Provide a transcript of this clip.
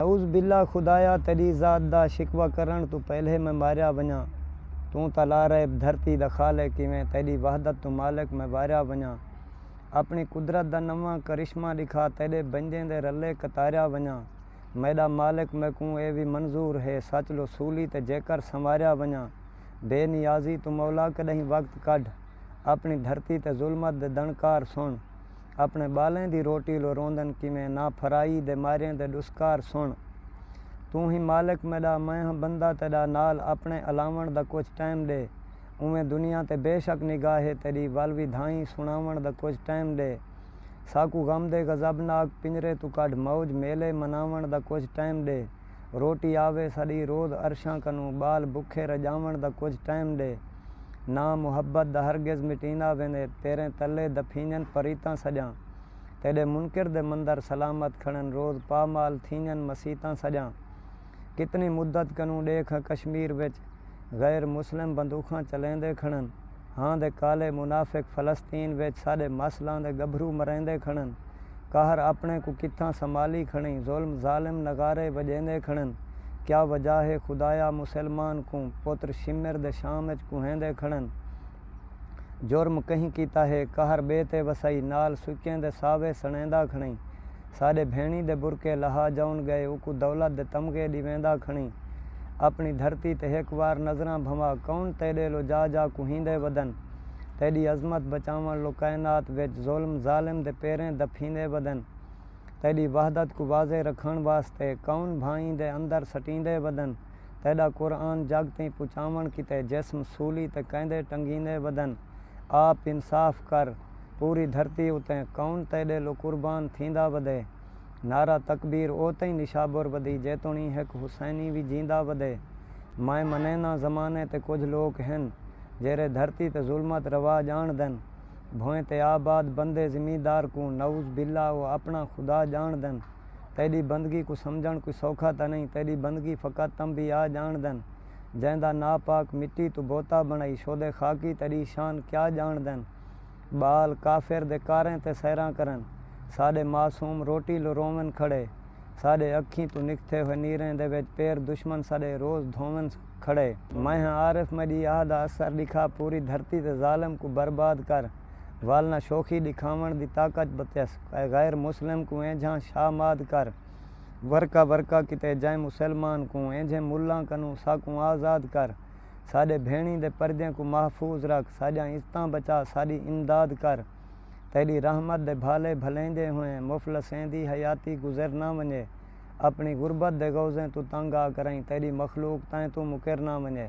نعوذ باللہ خدایا تیڈی ذات دا شکوہ کرنڑ توں پہلے میں ماریا ونجاں توں تاں لا ریب دھرتی دا خالق ہیویں تیڈی وحدت توں مالک میں واریا ونجاں اپنڑی قدرت دا نواں کرشمہ ڈکھا تیڈے بندیں دے رلے کتاریا ونجاں میڈا مالک میکوں اے وی منظور ہے سچ لو سولی تے جیکر سنواریا ونجاں بے نیازی توں مولا کڈہیں وقت کڈھ اپنڑی دھرتی تے ظلمت دے دنڑکار سنڑ اپݨے ٻالیں دی روٹی لو روندن کیویں نہ پھرائی دے ماریں دے ݙسکار سݨ توں ہی مالک میݙا میں ہاں بندہ تیݙا نال اپݨے الاوݨ دا کجھ ٹائم ݙے اوویں دنیا تے بے شک نگاہ ہے تیݙی ول وی دھائیں سݨاوݨ دا کجھ ٹائم ݙے ساکوں غم دے غضب ناک پنجرے توں کڈھ موج میلے مناوݨ دا کجھ ٹائم ݙے۔ روٹی آوے ساݙی روز عرشاں کنوں ٻال بکھے رڄاوݨ دا کجھ ٹائم ݙے نا محبت دا ہرگز مٹیندا ویندے تیریں تلے دفینڄن پریتاں سڄاں تیݙے منکر دے مندر سلامت کھڑن روز پامال تھینڄن مسیتاں سڄاں کتنی مدت کنوں ݙیکھ کشمیر وچ غیر مسلم بندوخاں چلیندے کھڑن۔ ہاں دے کالے منافق فلسطین وچ ساݙے ماسلاں دے ڳبھرو مریندے کھڑن، قہر اپݨے کوں کتھاں سنبھالی کھڑیں ظلم ظالم نغارے وڄیندے کھڑن کیا وجہ ہے خدایا مسلمان کوں پتر شمر دے شام وچ کوہیندے کھڑن جرم کہیں کیتا ہے قہر ٻئے تے وسائی نال سکیں دے ساوے سݨیندا کھڑیں ساݙے بھیݨی دے برقعے لہا جاؤن ڳئے اوکوں دولت دے تمغے ݙی ویندا کھݨی اپݨی دھرتی تے ہک وار نظراں بھنوا کون تیݙے لو جا جا کوہیندے ودن تیݙی عظمت بچاوݨ لو کائنات وچ ظلم ظالم دے پیریں دپھیندے ودن تیݙی وحدت کوں واضح رکھݨ واسطے کون بھائیں دے اندر سٹیندے ودن تیݙا قرآن جڳ تئیں پچاوݨ کیتے جسم سولی تے کیندے ٹنگیندے ودن آپ انصاف کر پوری دھرتی اتیں کون تیڈے لو قربان تھیندا ودے۔ نعرہ تکبیر او تئیں نشابر ودی جیتونی ہک حسینی وی جیندا ودے۔ میں منینداں زمانے تے کجھ لوک ہن جیرھے دھرتی تے ظلمت روا جانڑدن۔ بھوئیں تے آباد بندے زمیندار کوں نعوذ باللہ او اپنڑاں خدا جانڑدن۔ تیڈی بندگی کوں سمجھنڑ کوئی سوکھا تاں نئیں تیڈی بندگی فقط تنبیہہ آ جانڑدن۔ جیں دا نا پاک مٹی توں بوتا بنڑائی شودے خاکی تیڈی شان کیا جانڑدن بال کافر دے کاریں تے سیراں کرن ساڈے معصوم روٹی لو رونون کھڑے ساڈے اکھیں توں نکھتے ہوئے نیریں دے وچ پیر دشمن ساڈے روز دھونون کھڑے۔ میں ہاں عارف میڈی آہ دا اثر ڈکھا پوری دھرتی تے ظالم کوں برباد کر ول نہ شوخی ڈکھاونڑ دی طاقت بتیس اے غیر مسلم کوں اینجھاں شاہ ماد کر۔ ورقہ ورقہ کیتے جائیں مسلمان کوں اینجھیں ملاں کنوں ساکوں آزاد کر ساڈے بھینڑیں دے پردیں کوں محفوظ رکھ ساڈیاں عزتاں بچا ساڈی امداد کر تیڈی رحمت دے بھالے بھلیندے ہوئیں مفلسیں دی حیاتی گزر نہ ونجے اپنی غربت دے غوضیں توں تنگ آ کرائیں تیڈی مخلوق تائیں توں مکر نہ ونجے۔